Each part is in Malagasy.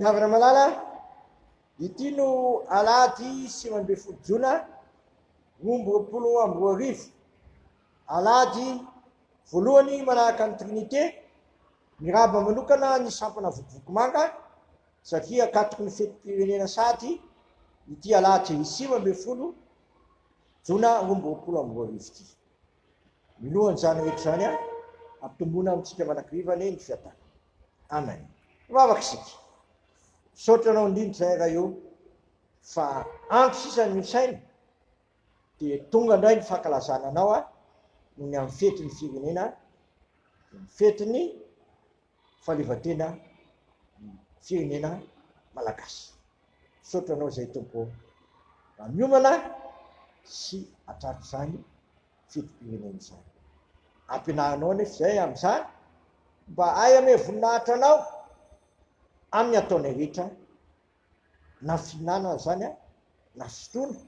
Havana Malala, ity no alahady sivy ambin'ny folo jona roa amby roapolo amby roa arivo. Alahady voalohany manahaka ny Trinité, miraba manokana ny sampana vokovoko manga satria akatoky ny fetim-pirenena sahady ity alahady sivy ambin'ny folo jona roa amby roapolo amby roa arivo ity. Minoan'izany rehetra izany aho, ampitomboina amintsika manakiriva anie ny fiadanana. Amen. Mivavaka isika. Misaotra anao indrindra izay Ray o, fa ampy sisa ny misaina, dia tonga indray ny fankalazana anao aho, noho ny amin'ny fetin'ny firenena, ny fetin'ny. fahaleovantena ny firenena malagasy. Misaotra anao izay Tompo mba miomana sy atratra izany fetim-pirenena izany. Ampianarinao anefa izay amin'izany mba ahy ame voninahitra anao amin'ny ataonay rehetra Na fihinana aza zany an, na fotoana,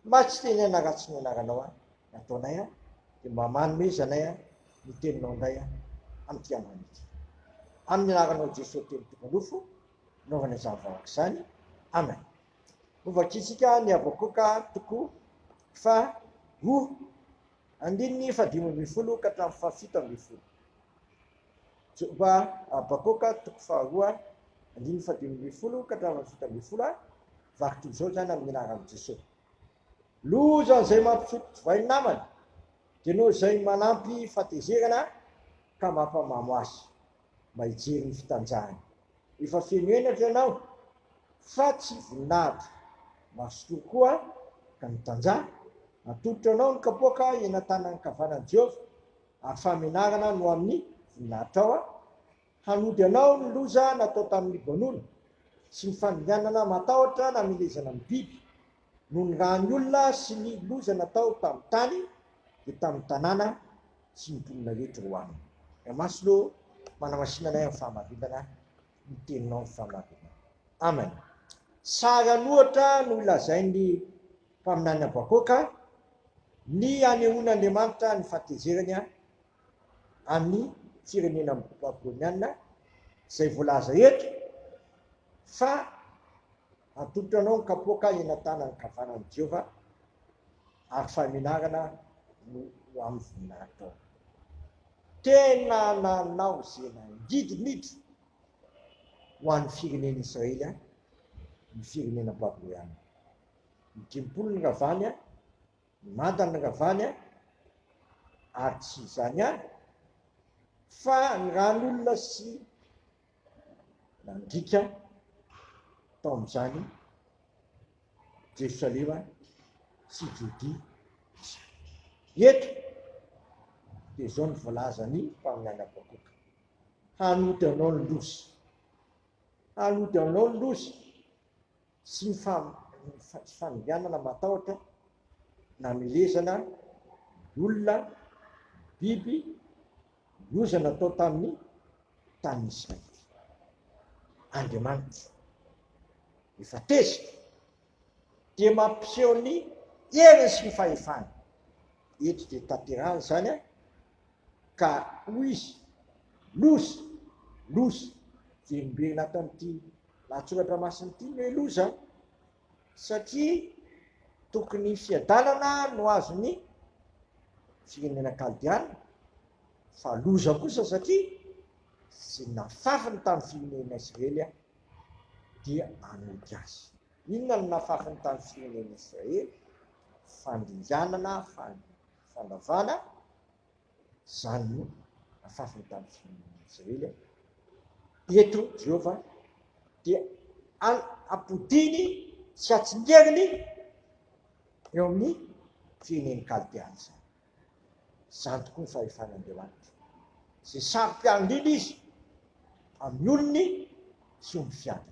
mba tsy teny an na ratsy ny anaranao an, ny ataonay an, dia mba manomezanay an ny teninao indray an, amin'ity androany ity. Amin'ny anaranao Jesoa telo tonga nofo, naovana izany vahoaka izany. Amen. Ho vakintsika ny Habakoka toko fa roa, andininy fahadimy ambin'ny folo ka hatramin'ny fahafito ambin'ny folo. Joba, Habakoka, toko faharoa, andininy fahadimy ambin'ny folo ka hatramin'ny fahafito ambin'ny folo a, vaky toy izao izany amin'ny anaran'i Jesoa. Loza izay mampifoty divay ny namany, dia noho izay manampy fahatezerana ka mampamamo azy, mba hijery ny fitanjahany. Efa feno henatra ianao, fa tsy voninahitra, mazotoa koa ka mitanjaha, atolotro anao ny kapoaka eny an-tanan'ny ankavanan'i Jehovah, ary famenarana no amin'ny voninahitrao aho, hanody anao ny loza natao tamin'ny Libanona, sy ny fandringanana matahotra namelezana amin'ny biby, noho ny ràn'ny olona sy ny loza natao tamin'ny tany, dia tamin'ny tanàna sy ny mponina rehetra ho aminy. Ry Maslo, manamasina anay amin'ny fahamarinana ny teninao, ny fahamarinana. Amen. Sary an'ohatra no lazain'ny Mpaminany Habakoka, ny hanehoan'Andriamanitra ny fahatezerany amin'ny firenena babylonianina izay voalaza eto fa Atolotro anao ny kapoaka eny an-tanan'ny kavanan'i Jehovah, ary fahamenarana no ho amin'ny voninahitrao. Tena nanao izay nangidimbiditra ho an'ny firenen'Israely ny firenena babylonianina. ny dimpolo ny ravany a, ny manda ny ravany a, ary tsy izany ihany fa ny ran'olona sy nandrika tao amin'izany Jerosalema sy Jodia izany. Eto dia izao ny voalazan'ny mpaminany Habakoka, hanody anao ny loza, hanody anao ny loza, sy ny faninganana matahotra namelezana ny olona, ny biby, ny oza natao tamin'ny tanin'ny Israely. Andriamanitra efa tezitra dia mampiseho ny heriny sy ny fahefany. Eto dia tanterahana izany. Ka hoy izy, Loza! Loza! Vendraina ato amin'ity lahatsoratra masina ity ny hoe loza, satria tokony fiadanana no azon'ny firenena kaldiana, fa loza kosa satria izay nafafiny tamin'ny firenena Israely dia hanody azy. Inona no nafafiny tamin'ny firenena Israely? Fandringanana, fandringanana. Fanavana izany no afafiny tamin'ny firenena Israely eto Jehovah dia apodiny sy atsingeriny eo amin'ny firenen'ny Kaldea izany. Izany tokoa ny fahefana Andriamanitra. Izay saro-piaro indrindra izy amin'ny olony sy omby fiady.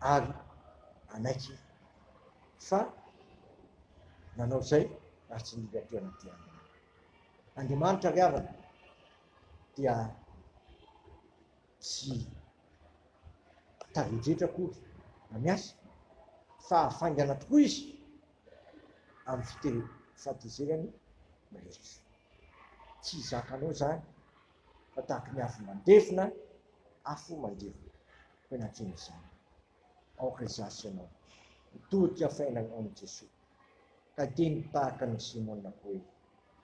ary hanaiky fa nanao izay ary tsy nila toerana dia Andriamanitra ry havana dia tsy tavedretra akory na miasa fa hafaingana tokoa izy amin'ny fite fatezerany rehetra tsy zakanao zany fa tahaka ny afo mandevona afo mandevona Tena tena izany. Aoka hizaha sy ianao hitodika fainana amin'i Jesoa, ka dia ny tahaka an'i Simona hoe,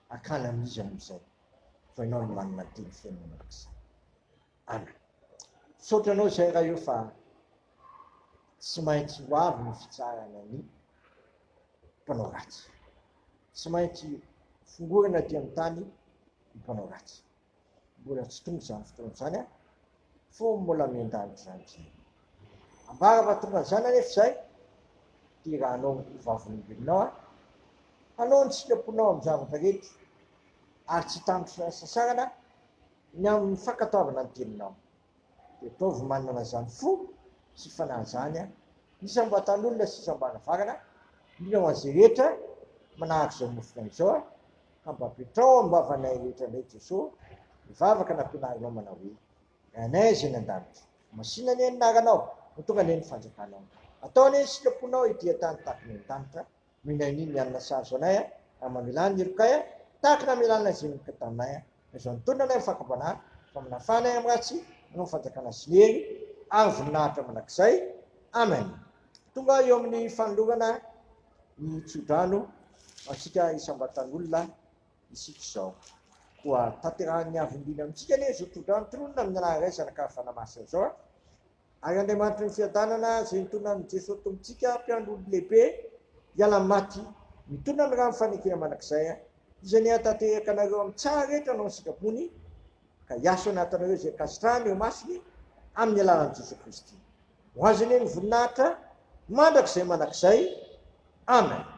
Akana amin'iza moa izay fa ianao no manana ny teny feno mandrakizay. Ana. Misaotra anao izay Ray o fa tsy maintsy ho avy ny fitsarana ny mpanao ratsy. Tsy maintsy fongorana aty amin'ny tany ny mpanao ratsy. Mbola tsy tonga izany fotoana izany an! Fony mbola miandany izany izay. Ambara fa tonga izany anefa izay, dia raha hanao ho vavolombelonao an! Hanao ny sitraponao amin'ny zavatra rehetra, ary tsy hitamby fisasarana ny amin'ny fankatoavana ny teninao. dia ataovy manana izany fo sy fanahy izany an! Iza mba tan'olona sisa mba nafarana? Mila ho an'izay rehetra manahaka izao nofona izao an! Ka mba apetraho amin'ny vavanay rehetra indray Jesoa ny vavaka nampianarinao manao hoe, Ranay izay any an-danitra, masina anie ny anaranao, ho tonga anie ny fanjakanao, atao anie ny sitraponao ety an-tany tahaka ny any an-danitra, Minainy ny alina sahaza anay a, raha mamelà ny helokay a, tahaka ny hamelà ny lazen'olon-ka taminay a. Aza antonona anay amin'ny fakam-panahy, fa manafà anay amin'ny ratsy, hanao ny fanjakana sy ny hery, ary voninahitra mandrakizay. Amen. Tonga eo amin'ny fanolorana ny tsodrano ho antsika isam-batan'olona isika izao. Koa tanterahan'ny Havim-biny amintsika anie izao tsodrano tononina amin'ny Anaran'Ilay Zanak'Avy Fanahy Masina izao a. Ary Andriamanitry ny Fiadanana, izay nitondra an'i Jesoa Tompontsika, Mpiandry olony lehibe, hiala amin'ny maty, mitondra ny rano fanekena mandrakizay, izay ny hanatanteraka anareo amin'ny tsara rehetra anao ny sitrapony, ka hiasa ao anatinareo izay ankasitrahany eo imasony, amin'ny alalan'i Jesoa Kristy. Ho Azy anie ny voninahitra mandrakizay manakizay. Amen.